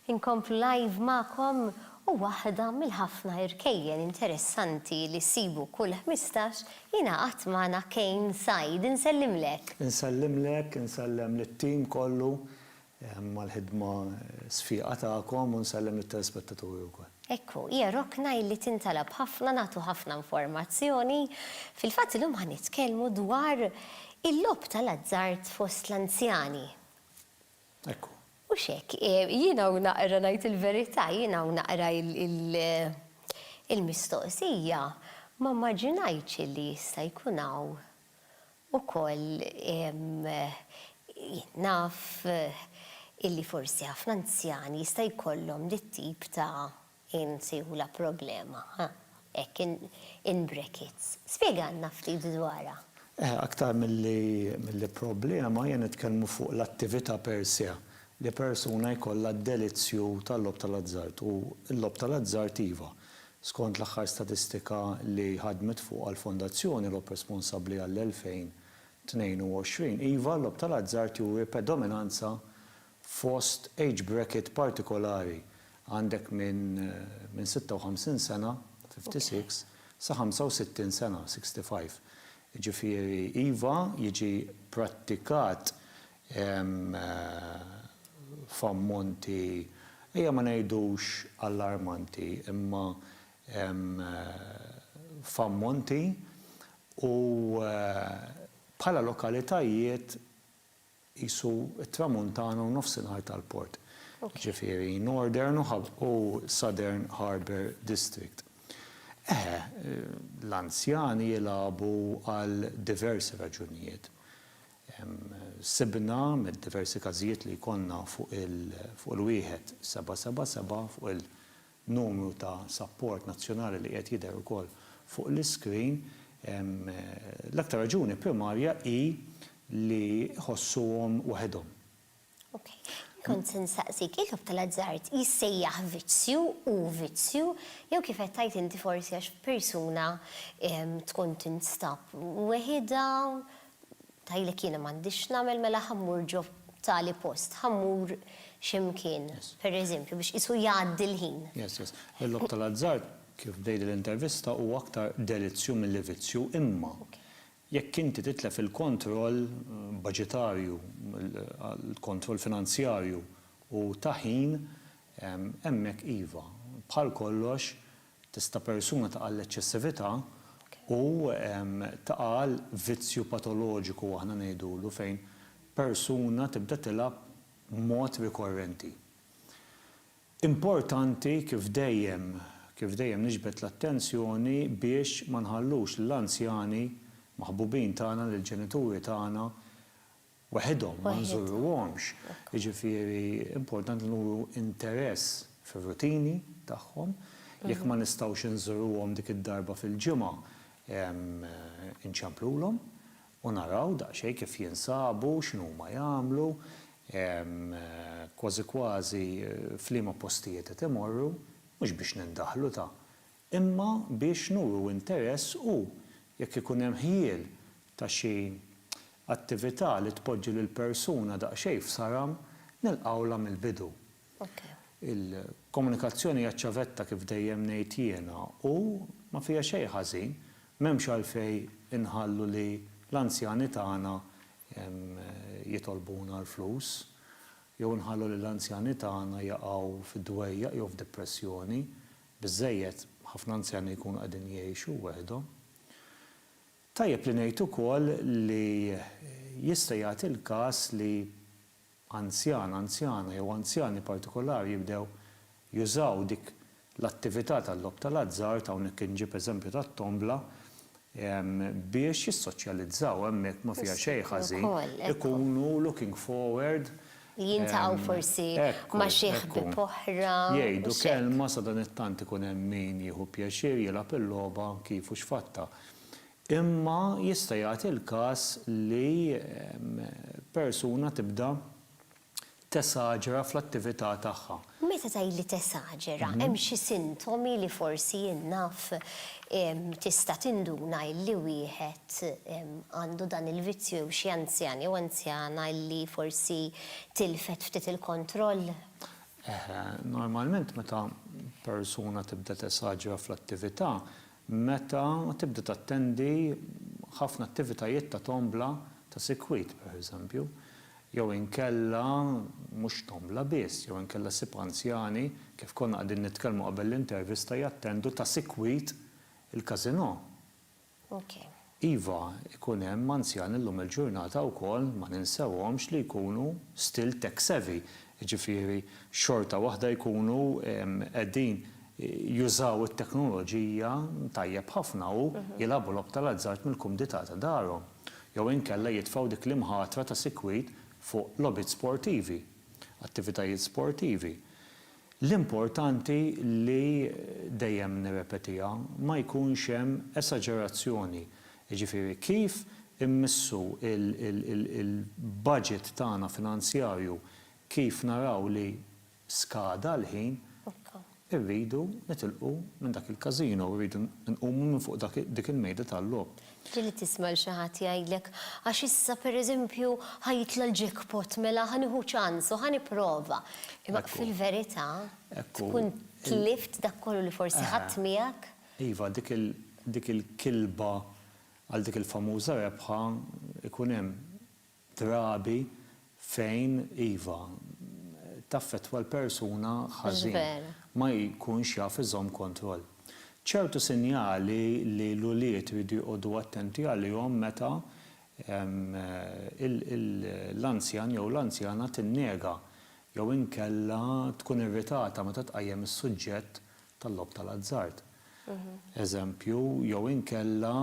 Inkomplu live magħkom u waħda mill-ħafna irkejjen interessanti li ssibu kull ħmistax jingħaqad magħna Kane Said. Insellimlek! Insellimlek, insellem lit-tim kollu għall-ħidma sfieqa tagħkom u nsellem lit-telespettaturi wkoll. Ekku, hija rokna illi tintalab ħafna, nagħtu ħafna informazzjoni. Fil-fatt illum ħa nitkellmu dwar il-logħob tal-azzard fost l-anzjani. Hekk hu. Mhux hekk. Jien hawn naqra ngħid il-verità, jien hawn naqra il-mistoqsija ma mmaġinajtx illi jista' jkun hawn ukoll jien naf illi forsi ħafna anzjani jista' jkollhom dit-tip ta' Inti u la problema, ha, hekk in in brackets. Spjegalna ftit dwarha. Eh, aktar milli milli problema, hija nitkellmu fuq l-attività per se, li persuna jkollha d-delizzju tal-logħob tal-azzard u l-logħob tal-azzard iva, skont l-aħħar statistika li ħadmet fuqha l-Fondazzjoni Logħob Responsabbli għall-2022, iva l-logħob tal-azzard juri predominanza Fost age bracket partikolari għandek minn minn 56 sena, 56, sa 65 sena, 65. Jiġifieri iva, jiġi pprattikat f'ammonti, ejja ma ngħidux allarmanti, imma f'ammonti u bħala lokalitajiet, qisu t-Tramuntana u Nofsinhar tal-Port, jiġifieri Northern u Southern Harbour District. Eħe, l-anzjani jilagħbu għal diversi raġunijiet. Sibna, mid-diversi każijiet li jkollna fuq il-wieħed seba' seba' seba' fuq numru ta' sapport nazzjonali li qiegħed jidher ukoll fuq l-iskrin, l-aktar raġuni primarja hi li jħossuhom waħedhom. Ok. Jien kont se nsaqsik, il-logħob tal-azzard jissejjaħ vizzju, hu vizzju, jew kif qed tgħid inti forsi għax persuna tkun tinstab weħidha, Tgħidlek jiena m'għandix x'nagħmel mela ħa mmur ġo tali post, ħa mmur xi mkien, pereżempju, biex qisu jgħaddi l-ħin. Yes, yes. Il-logħob tal-azzard, kif bdejt l-intervista, huwa aktar delizzju milli vizzju, imma jekk inti titlef il-kontroll baġitarju, il-kontroll finanzjarju u ta' ħin, hemmhekk iva, bħal kollox, Tista' persuna taqa' għall-eċċessività u taqa' għal vizzju patoloġiku aħna ngħidulu fejn persuna tibda tilgħab b'mod rikorrenti. Importanti kif dejjem, kif dejjem niġbed l-attenzjoni biex ma nħallux lill-anzjani, maħbubin tagħna, lill-ġenituri tagħna Waħidhom ma nżurruhomx. Jiġifieri importanti nuru interess fir-rutini tagħhom. Jekk ma nistgħux inżuruhom dik id-darba fil-ġimgħa, inċemplulhom u naraw daqsxejn kif jinsabu, x'inhuma jagħmlu, kważi kważi f'liema postijiet qed imorru, mhux biex nindaħlu ta', imma biex nuru interess u, jekk ikun hemm ħjiel ta' xi attività li tpoġġi lill-persuna daqsxejn f'saram, nilqgħulha mill-bidu. Il-komunikazzjoni hija ċ-ċavetta kif dejjem ngħid jiena u ma fiha xejn ħażin, m'hemmx għalfejn inħallu li l-anzjani tagħna jitolbuna l-flus jew inħallu lill-anzjani tagħna jaqgħu fid-dwejjaq jew f'dipressjoni Biżżejjed, ħafna anzjani jkunu qegħdin jgħixu weħidhom. Tajjeb li ngħid ukoll li jista' jagħti l-każ li anzjan, anzjana jew anzjani partikolari jibdew jużaw dik l-attività tal-logħob tal-azzard, hawnhekk inġib eżempju tat-tombla, biex jissoċjalizzaw hemmhekk ma fiha xejn ħażin ikunu looking forward li jiltaqgħu forsi ma xi ħbieb oħra jgħidu kelma sadanittant ikun hemm min jieħu pjaċir jilgħab il-logħba kif u x'fattha imma jista' jagħti l-każ li persuna tibda tesaġera fl-attività tagħha. Meta tgħid li tesaġera, hemm xi sintomi li forsi jien naf tista' tinduna illi wieħed għandu dan il-vizzju jew xi anzjan jew anzjana illi forsi tilfet ftit il-kontroll? Eħe, normalment meta persuna tibda tesaġera fl-attività, Meta tibda tattendi ħafna attivitajiet ta' tombla ta' sikwit, pereżempju, jew inkella mhux tombla biss, jew inkella ssib anzjani, kif konna qegħdin nitkellmu qabel l-intervista, jattendu ta' sikwit il-każinò. Ok. Iva, ikun hemm anzjani llum il-ġurnata wkoll, ma ninsewhomx, li jkunu still tech savvy, jiġifieri xorta waħda jkunu qegħdin jużaw it-teknoloġija tajjeb ħafna u jilagħbu logħob tal-azzard mill-kumdità ta' darhom. Jew inkella jitfgħu dik l-imħatra ta' sikwit fuq logħbiet sportivi, attivitajiet sportivi. L-importanti li, dejjem nirrepetiha, ma jkunx hemm esaġerazzjoni, jiġifieri kif immissu l-baġit tagħna finanzjarju, kif naraw li skada l-ħin, irridu nitilqu minn dak il-każino, irridu nqumu minn fuq dik il-mejda tal-logħob. Ġieli tisma' 'l xi ħadd jgħidlek, Għax issa, per eżempju, ħa jitla' l-jackpot, mela ħa nieħu ċans u ħa nipprova. Imma fil-verità, tkun tlift dak kollu li forsi ħadt miegħek. Iva, dik il-kilba għal dik il-famuża rebħa, ikun hemm. drabi fejn, iva, taffettwa l-persuna ħażin, ma jkunx jaf iżomm kontroll. Ċertu sinjali li l-ulied iridu joqogħdu attenti għalihom meta l-anzjan jew l-anzjana tinnega jew inkella tkun irritata meta tqajjem is-suġġett tal-logħob tal-azzard, eżempju, jew inkella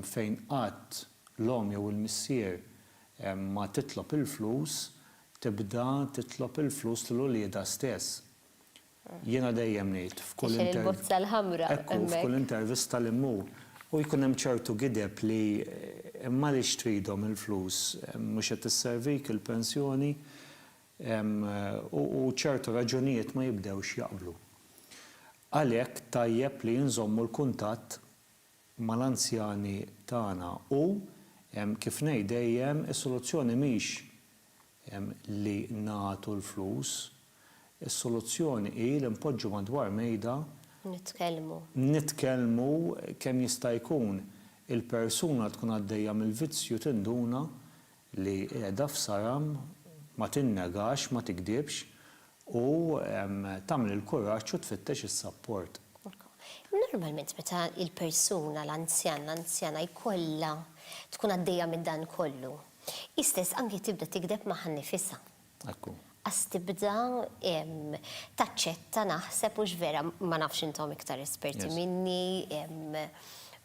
fejn qatt l-omm jew il-missier ma titlob il-flus, tibda titlob il-flus lil uliedha stess. Jiena dejjem ngħid f'kull intervista li mmur u jkun hemm ċertu gideb li imma għaliex tridhom il-flus, mhux qed isservik il-pensjoni? u ċertu raġunijiet ma jibdewx jaqblu. Għalhekk tajjeb li nżommu l-kuntatt mal-anzjani tagħna u, kif ngħid dejjem, is-soluzzjoni mhix li nagħtu l-flus, is-soluzzjoni hi li npoġġu madwar mejda, nitkellmu kemm jista' jkun, il-persuna tkun għaddejja mill-vizzju tinduna li qiegħda f'Saram ma tinnegax, ma tikdibx u tagħmel il-kuraġġ u tfittex is-sapport. Normalment meta l-persuna, l-anzjan, l-anzjana jkollha tkun għaddejja minn dan kollu, hi stess anki tibda tikdeb magħha nnifisha. Hekk hu. Qas tibda taċċetta naħseb hux vera, ma nafx intom iktar esperti minni,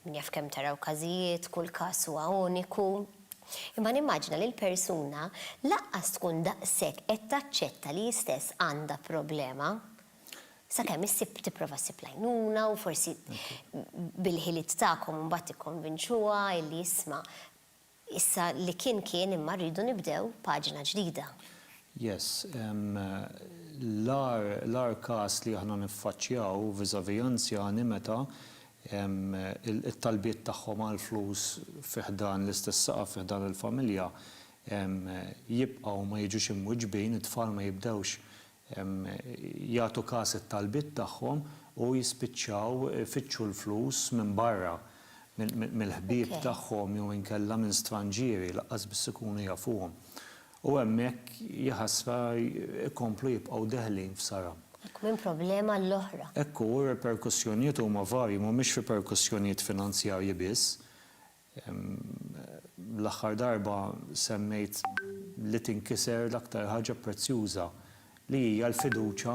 min jaf kemm taraw każijiet, kull każ huwa uniku. Imma nimmaġina li l-persuna lanqas tkun daqshekk qed taċċetta li hi stess għandha problema, sakemm issib tipprova ssib l-għajnuna u forsi bil-ħiliet tagħkom imbagħad tikkonvinċuha illi isma' Issa li kien kien imma rridu nibdew paġna ġdida. Yes, l-agħar l-agħar każ li aħna niffaċċjaw vis-à-vis anzjani meta t-talbiet tagħhom għal flus fi ħdan l-istess saqaf fi ħdan il-familja jibqgħu ma jiġux imwiġbin, it-tfal ma jibdewx jagħtu kas it-talbiet tagħhom u jispiċċaw ifittxu l-flus minn barra, mill-ħbieb tagħhom jew inkella minn stranġieri laqqas biss ikunu jafuhom. U hemmhekk, jaħasra, ikomplu jibqgħu deħlin f'saram. Hekk minn problema għal oħra. Hekk hu, r-riperkussjonijiet huma varji, mhumiex riperkussjonijiet finanzjarji biss. L-aħħar darba semmejt li tinkiser l-aktar ħaġa prezzjuża li hija l-fiduċja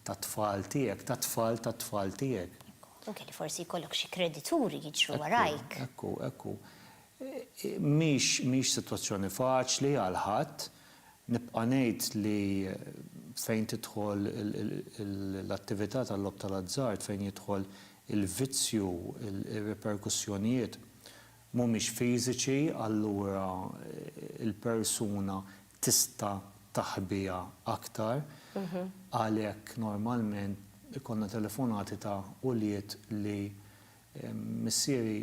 tat-tfal tiegħek, tat-tfal tat-tfal tiegħek. Anke li forsi jkollok xi kredituri jiġru warajk. Ekku, ekku. Mhix sitwazzjoni faċli għal ħadd. Nibqa' ngħid li fejn tidħol l-attività tal-logħob tal-azzard, fejn jidħol il-vizzju, ir-riperkussjonijiet mhumiex fiżiċi allura l-persuna tista' taħbiha aktar għalhekk normalment ikollna telefonati ta' ulied li missieri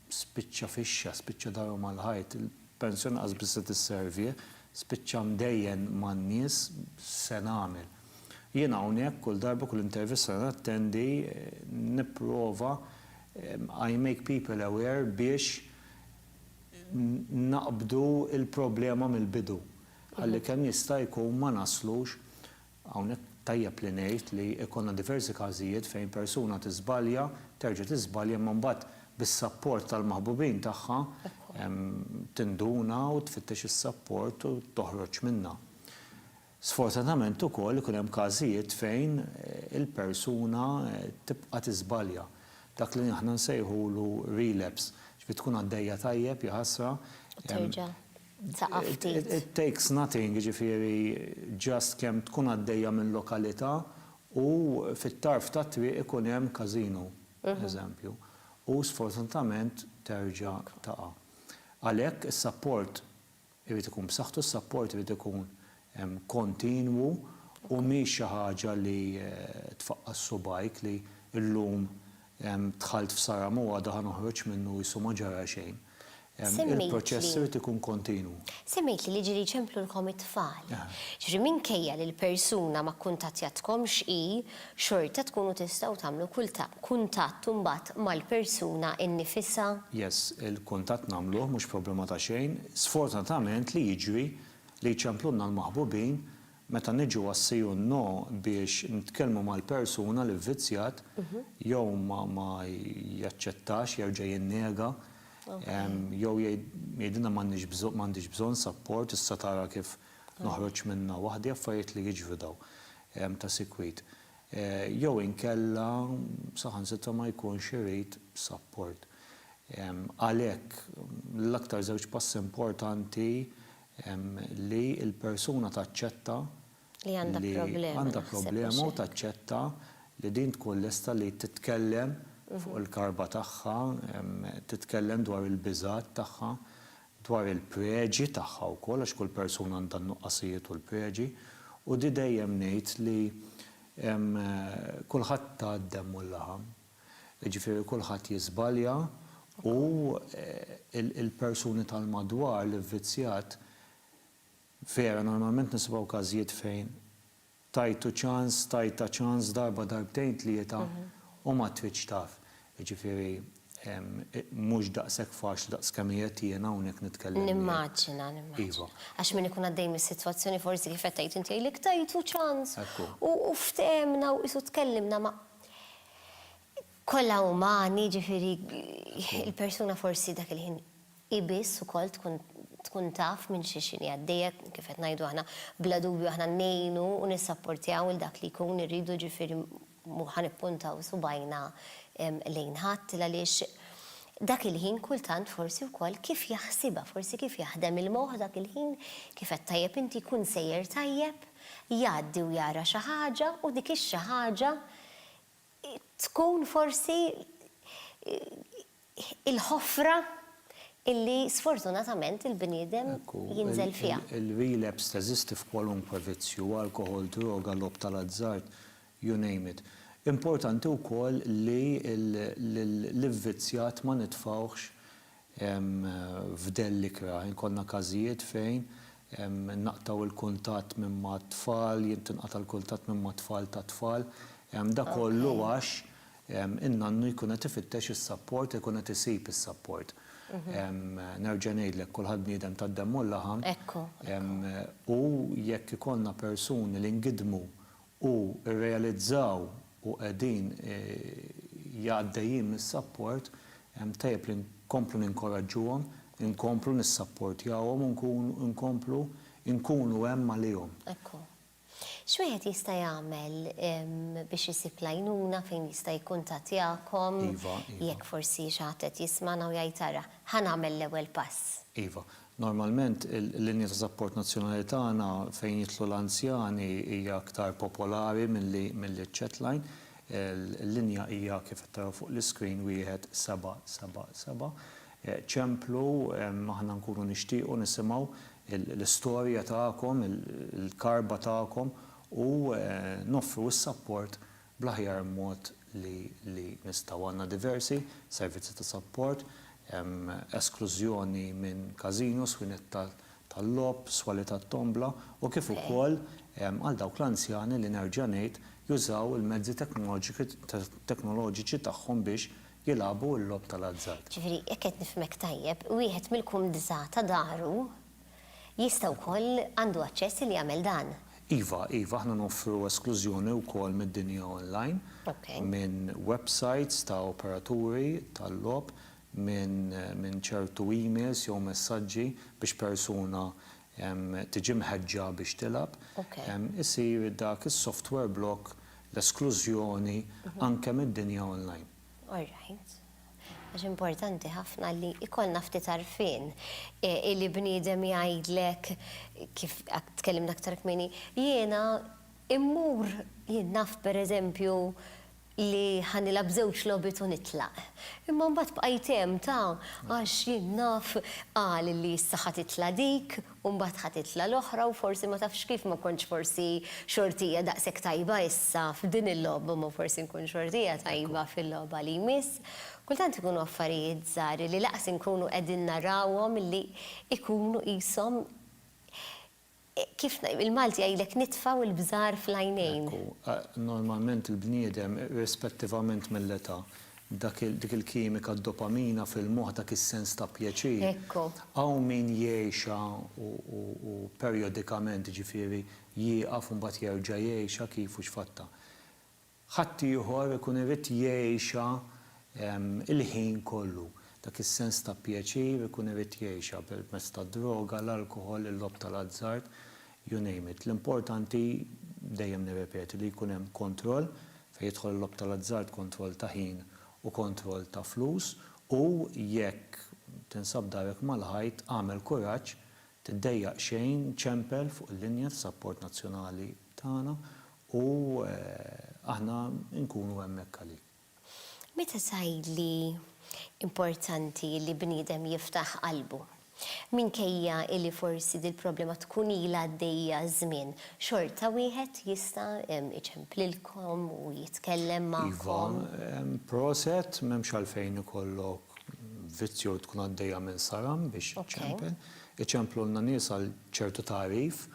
spiċċa fixxa, spiċċa darhom għall-ħajt, il-pensjoni lanqas biss se tisservih, spiċċa mdejjen man-nies, x'se nagħmel? Jien hawnhekk kull darba, kull intervista li nattendi, nipprova, I make people aware biex naqbdu l-problema mill-bidu, ħalli kemm jista' jkun ma naslux Hawnhekk tajjeb li ngħid li jkollna diversi każijiet fejn persuna tiżbalja, terġa' tiżbalja imma mbagħad bis-sapport tal-maħbubin tagħha tinduna u tfittex is-sapport u toħroġ minnha. Sfortunatament ukoll ikun hemm każijiet fejn il-persuna tibqa' tiżbalja. Dak li aħna nsejħulu relapse. Ġifieri tkun għaddejja tajjeb, jaħasra, Saqaf ftit. It takes nothing, jiġifieri just kemm tkun għaddejja minn lokalità u fit-tarf tat-triq ikun hemm każino, eżempju, u sfortunatament terġa' taqa'. Għalhekk is-sapport irid ikun b'saħħtu, s-sapport irid ikun kontinwu u mhix xi ħaġa li tfaqqas subgħajk li llum dħalt f'saram u għada ħa noħroġ minnu qisu ma ġara xejn. Il-proċess irid ikun kontinwu. Semmejtli li ġieli jċemplulkom it-tfal. Jiġifieri minkejja li l-persuna ma kkuntattjatkomx hi, xorta tkunu tistgħu tagħmlu kuntatt imbagħad mal-persuna nnifisha? Yes, il-kuntatt nagħmluh, mhux problema ta' xejn. Sfortunatament li jiġri, Li jċemplunna l-maħbubin meta niġu għas-see u n-no biex nitkellmu mal-persuna li vvizzjat jew ma jaċċettax, jerġa' jinnega, jew jgħidilna m'għandix bżonn sapport, issa tara kif noħroġ minnha waħdi, affarijiet li jiġru dawn ta' sikwit. jew inkella saħansitra ma jkunx irid sapport. Għalhekk, l-aktar żewġ passi importanti li l-persuna taċċetta li għandha problema u taċċetta li din tkun lesta li titkellem fuq il-karba tagħha, titkellem dwar il-biżgħat tagħha, dwar il-preġi tagħha wkoll għax kull persuna għandha n-nuqqasijiet u l-preġi u di dejjem ngħid li kulħadd ta d-demm u l-laħam, jiġifieri kulħadd jiżbalja u l-persuni tal-madwar l-ivvizzjat vera normalment nisimgħu każijiet fejn Tajtu ċans, tajtha ċans darba darbtejn tlieta u ma tridx taf. Jiġifieri mhux daqshekk faċli daqs kemm qiegħed jiena hawnhekk nitkellem miegħek. Nimmaġina, nimmaġina. Għax min ikun għaddej mis-sitwazzjoni forsi kif qed tgħid inti jgħidlek tajtu ċans u ftehemna u qisu tkellimna ma' kollha umani jiġifieri l-persuna forsi dak il-ħin Hi biss ukoll tkun tkun taf minn xi x'inhi għaddejja, kif qed ngħidu aħna, bla dubju aħna ngħinu u nissapportjaw lil dak li jkun irridu ġifieri mhu ħa nippuntaw subgħajna lejn ħadd l-għaliex dak il-ħin kultant forsi wkoll kif jaħsibha, forsi kif jaħdem il-moħħ dak il-ħin, kif għedt tajjeb inti jkun sejjer tajjeb, jgħaddi u jara xi ħaġa u dik ix-xi ħaġa tkun forsi il-ħofra illi sfortunatament il-bniedem jinżel fiha. Ekku, il-relapse teżisti f'kwalunkwe vizzju, alkoħol, droga, logħob tal-azzard, you name it. Importanti wkoll li lill-ivvizzjat ma nitfgħuhx f'dell ikrah. Ikollna każijiet fejn naqtgħu l-kuntatt minn mat-tfal, jintinqata' l-kuntatt minn mat-tfal tat-tfal. Da kollu għax In-nannu jkun qed ifittex is-sapport, ikun qed isib is-sapport. Nerġa' ngħidlek, kulħadd bniedem tad-demm u l-laħam. Ekku, ekku. U jekk ikollna persuni li ngidmu u rrealizzaw u qegħdin għaddejjin mis-sapport, tajjeb li nkomplu ninkoraġġuhom, inkomplu nissapportjawhom u nkomplu nkunu hemm għalihom. Ekku. X'wieħed jista' jagħmel biex isib l-għajnuna fejn jista' jikkuntattjakom? Iva, iva. Jekk forsi xi ħadd qed jismagħna u jgħid ara, ħa nagħmel l-ewwel pass. Iva. Normalment il-linja ta' sapport nazzjonali tagħna fejn jidħlu l-anzjani hija aktar popolari milli milli ċ-chatline. Il-linja hija kif qed taraw fuq l-iscreen wieħed seba' seba' seba'. Ċemplu, aħna nkunu nixtiequ nisimgħu l-istorja tagħkom, il-karba tagħkom u noffru s-sapport bl-aħjar mod li nistgħu. Għandna diversi servizzi ta' sapport, esklużjoni minn każinos, swinett tal-logħob, swali tat-tombla u kif ukoll għal dawk l-anzjani li nerġa' ngħid jużaw il-mezzi teknoloġiċi tagħhom biex jilagħbu l-logħob tal-azzard. Ġifieri, jekk qed nifhmek tajjeb, wieħed mill-kumdità ta' daru jista' wkoll, għandu aċċess li jagħmel dan? Iva, iva, aħna noffru esklużjoni wkoll mid-dinja online, minn websajts ta' operaturi tal-logħob, minn ċertu emails jew messaġġi biex persuna tiġi mħeġġa biex tilgħab, isir dak is-software block, l-esklużjoni, anke mid-dinja online. All right. Għax importanti ħafna li jkollna ftit għarfien li bniedem jgħidlek kif tkellimna aktar kmieni, jiena mmur, jien naf pereżempju li ħa nilgħab żewġ logħbiet u nitlaq. Imma mbagħad bqajt hemm ta' għax jien naf qal li issa ħa titla' dik u mbagħad ħa titla' l-oħra u forsi ma tafx kif ma kontx forsi xortija daqshekk tajba issa f'din il-logħba imma forsi nkun xortija tajba fil-logħba li jmiss. Kultant ikunu affarijiet żgħar li lanqas inkunu qegħdin narawhom li jkunu qishom Kif il-Malti jgħidlek nitfgħu il-bżar fl-għajnejn. Ekku, normalment il-bniedem, irrispettivament mill-età, dik il-kimika d-dopamina fil-moħħ, dak is-sens ta' pjaċir. Ekku. Hawn min jgħixha u perjodikament, jiġifieri, jieqaf u mbagħad jerġa' jgħixha kif u x'fattha. ħaddieħor ikun irid jgħixha l-ħin kollu. Dak is-sens ta' pjaċir ikun irid jgħixha permezz tad-droga, l-alkoħol, il-logħob tal-azzard, you name it. L-importanti, dejjem nirrepeti, li jkun hemm kontroll, fejn jidħol il-logħob tal-azzard kontroll ta' ħin u kontroll ta' flus, u jekk tinsab darek mal-ħajt, agħmel kuraġġ, tiddejjaq xejn, ċempel fuq il-linja ta' sapport nazzjonali. tagħna u aħna nkunu hemmhekk għalik. Meta tgħid li importanti li bniedem jiftaħ qalbu, minkejja li forsi dil-problema tkun ilha għaddejja żmien, xorta wieħed jista' iġemp lilkom u jitkellem magħkom? Iva, proset, m'hemmx għalfejn ikollok vizz jew tkun għaddejja minn saram biex iċempel. Iċemplulna nies għal ċertu tagħrif,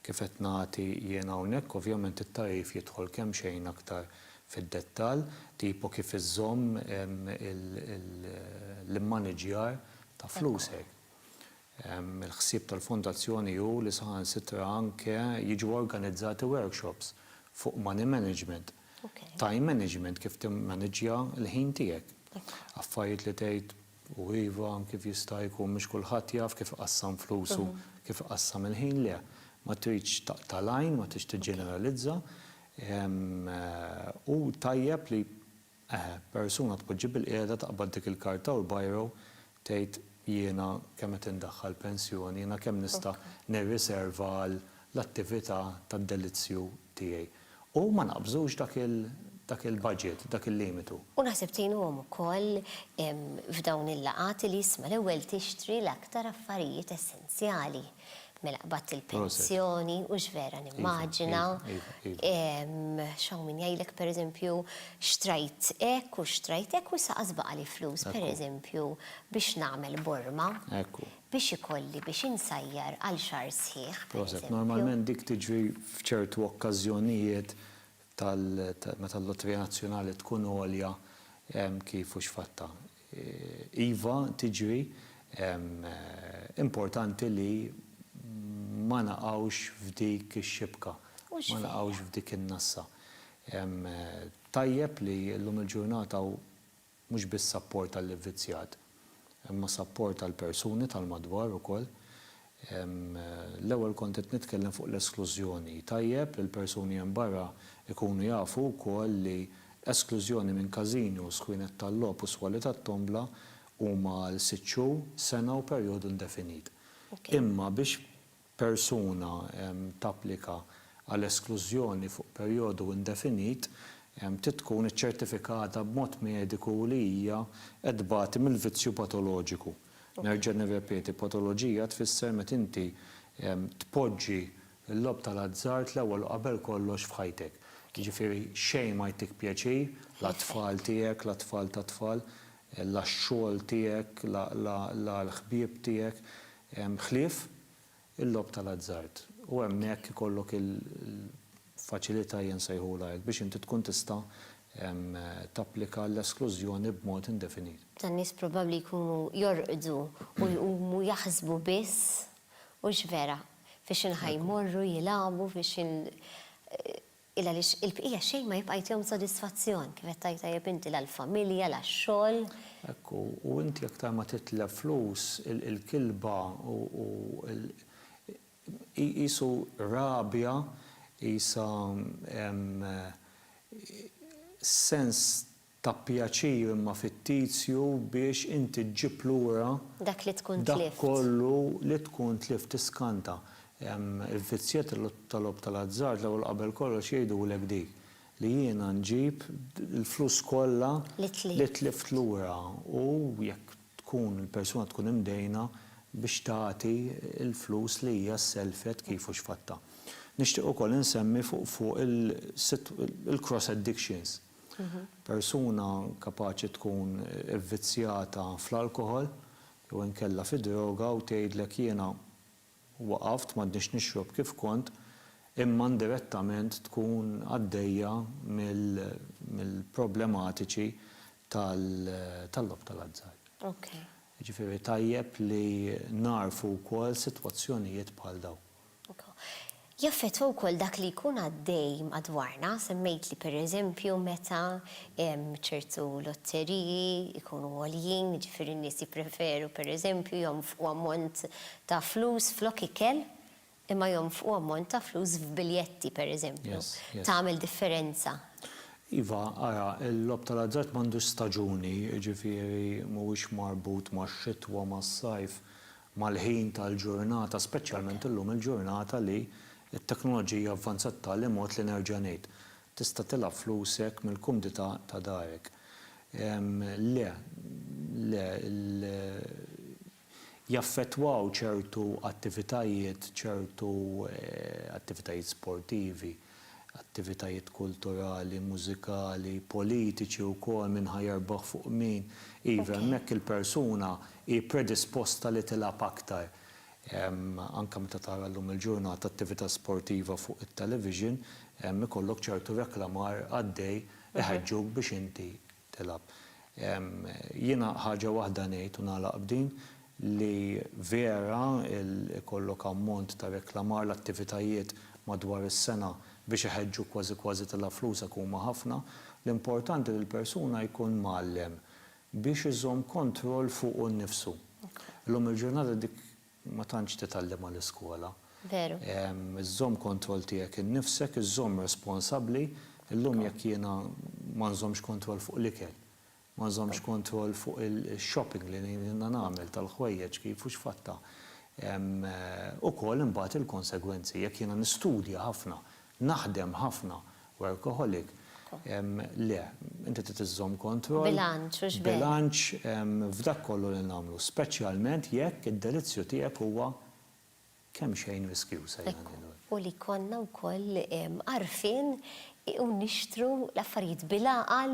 Kif qed nagħti jien hawnhekk, ovvjament it-tagħrif jidħol kemxejn aktar fid-dettall, tipo kif iżżomm l-immaniġġjar ta' flusek. Il-ħsieb tal-Fondazzjoni hu li saħansitra anke jiġu organizzati workshops fuq money management, time management, kif timmaniġġja l-ħin tiegħek. Affarijiet li tgħid U iva, kif jista' jkun mhux kulħadd jaf kif iqassam flusu, kif iqassam il-ħin? Le. Ma tridx taqta' l-għajn, ma tridx tiġġeneralizza. Hu tajjeb li persuna tpoġġi bilqiegħda taqbad dik il-karta u l-biro tgħid jiena kemm qed indaħħal pensjoni, jiena kemm nista' nirriserva għall-attività tad-delizzju. tiegħi. U ma naqbżux dak il, dak il-budget, dak il-limitu. U naħseb tgħinuhom ukoll f'dawn il-laqgħat li isma' l-ewwel tixtri l-aktar affarijiet essenzjali. Mela qbadt il-pensjoni u x'vera nimmaġina. X'hawn min jgħidlek pereżempju xtrajt hekk u xtrajt hekk u issa qas baqali flus pereżempju biex nagħmel borma. biex ikolli biex insajjar għal xahar sħiħ, pereżempju. Proset, normalment dik tiġri f'ċertu okkażjonijiet tal meta l-lotrija nazzjonali tkun għolja kif u x'fattha. Iva tiġri, importanti li ma naqgħux f'dik ix-xibka, ma naqgħux f'dik in-nassa. Tajjeb li llum il-ġurnata u Mhux biss sapport għall-ivvizzjat, imma sapport għall-persuni tal-madwar ukoll. L-ewwel kont qed nitkellem fuq l-esklużjoni. Tajjeb li l-persuni hemm barra jkunu jafu wkoll li esklużjoni minn każino, skwienet tal-logħob u swali tat-tombla huma għal sitt xhur, sena u perjodu indefinit. Imma biex persuna tapplika għal esklużjoni fuq perjodu indefinit trid tkun iċċertifikata b'mod mediku li hija qed tbati mill-vizzju patoloġiku. Nerġa' nirrepeti, patoloġija tfisser meta inti tpoġġi l-logħob tal-azzard l-ewwel u qabel kollox f'ħajtek. Jiġifieri xejn ma jtik pjaċir, la t-tfal tiegħek, la t-tfal tat-tfal, la x-xogħol tiegħek, la l-ħbieb tiegħek. ħlief il-logħob tal-azzard, u hemmhekk ikollok il-faċilità, jien nsejħulha hekk, biex inti tkun tista' tapplika l-esklużjoni b'mod indefinit. Tan-nies probabbli jkunu jorqdu u jqumu jaħsbu biss, hux vera? F'xi naħa jmorru jilagħbu, f'xi. Il għaliex il-bqija xejn ma jibqa' jtihom sodisfazzjon, kif qed tgħid tajjeb inti, la l-familja, la x-xogħol. Hekk hu, u inti aktar ma titlef flus, il-kilba u l hi qisu rabja, qisha sens Ta pjaċir imma fittizju biex inti ġġib lura Dak li tkun dak tlift. kollu li tkun tlift tiskanta. Il-vizzjet ta' logħob ta' l-azzard l-ewwel qabel kollox jgħidulek dik, li jiena nġib il-flus kollha Li tlift. li tlift lura u jekk tkun il-persuna tkun imdejna biex tagħti l-flus li hija sellfet kif u x'fattha. Nixtieq ukoll insemmi fuq fuq il-sit il-cross addictions. Persuna kapaċi tkun ivvizzjata fl-alkoħol jew inkella fid-droga u tgħidlek jiena waqaft, m'għadnix nixrob kif kont, imma indirettament tkun għaddejja mill-problematiċi tal-logħob tal-azzard. Jiġifieri tajjeb li nagħrfu wkoll sitwazzjonijiet bħal dawn. Jaffettwa wkoll dak li jkun għaddej madwarna, semmejtli pereżempju meta ċertu lotteriji jkunu għoljin, jiġifieri n-nies jippreferu pereżempju jonfqu ammont ta' flus flok ikel imma jonfqu ammont ta' flus f'biljetti pereżempju. Tagħmel differenza. Iva, ara, il-logħob tal-azzard m'għandux staġuni, jiġifieri mhuwiex marbut max-xitwa, mas-sajf, mal-ħin tal-ġurnata, speċjalment illum il-ġurnata li t-teknoloġija avvanzat b'tali mod li nerġa' ngħid, tista' tilgħab flusek mill-kumdità ta' darek. Le, le, jaffettwaw ċertu attivitajiet, ċertu attivitajiet sportivi. attivitajiet kulturali, mużikali, politiċi wkoll, min ħa jerbaħ fuq min. Iva, hemmhekk il-persuna hi predisposta li tilgħab aktar. Anke meta tara llum il-ġurnata attività sportiva fuq it-television, ikollok ċertu reklamar għaddej iħeġġuk biex inti tilgħab. Jiena ħaġa waħda ngħid u nagħlaq b'din, li vera ikollok ammont ta' reklamar l-attivitajiet madwar is-sena biex iħeġġuk kważi kważi tilgħab flusek huma ħafna, l-importanti li l-persuna jkun mgħallem biex iżomm kontroll fuqu nnifsu. Illum il-ġurnata dik Ma tantx titgħallem għall-iskola. Veru. Iżżomm kontroll tiegħek innifsek, iżżomm responsabbli. Illum jekk jiena ma nżommx kontroll fuq l-ikel, ma nżommx kontroll fuq il-shopping li jiena nagħmel tal-ħwejjeġ kif u x'fattha. Hemm ukoll imbagħad il-konsegwenzi. Jekk jiena nistudja ħafna, Naħdem ħafna, workaholic, le, inti trid iżżomm kontroll. Bilanċ, mhux b'hekk. Bilanċ f'dak kollu li nagħmlu, speċjalment jekk id-delizzju tiegħek huwa kemxejn riskjuż, ejja ngħidu hekk. Ekku, u li jkollna wkoll għarfien u nixtru l-affarijiet bil-għaqal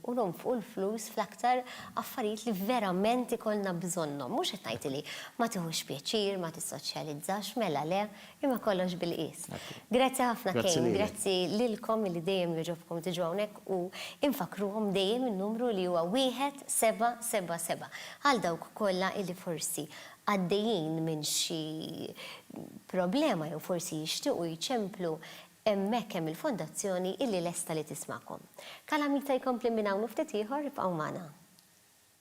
u nonfqu l-flus fl-aktar affarijiet li verament ikollna bżonnhom. Mhux qed ngħid li ma tiħux pjaċir, ma tissoċjalizzax, mela le, Imma kollox bil-qies. Grazzi ħafna Kane, grazzi lilkom li dejjem jogħġobkom tiġu hawnhekk u infakkruhom dejjem in-numru li huwa 1777 għal dawk kollha li forsi għaddejjin minn xi problema jew forsi jixtiequ jċemplu, hemmhekk hemm il-Fondazzjoni li lesta li tismagħkom. Kalamita jkompli minn hawn u ftit ieħor, ibqgħu magħna.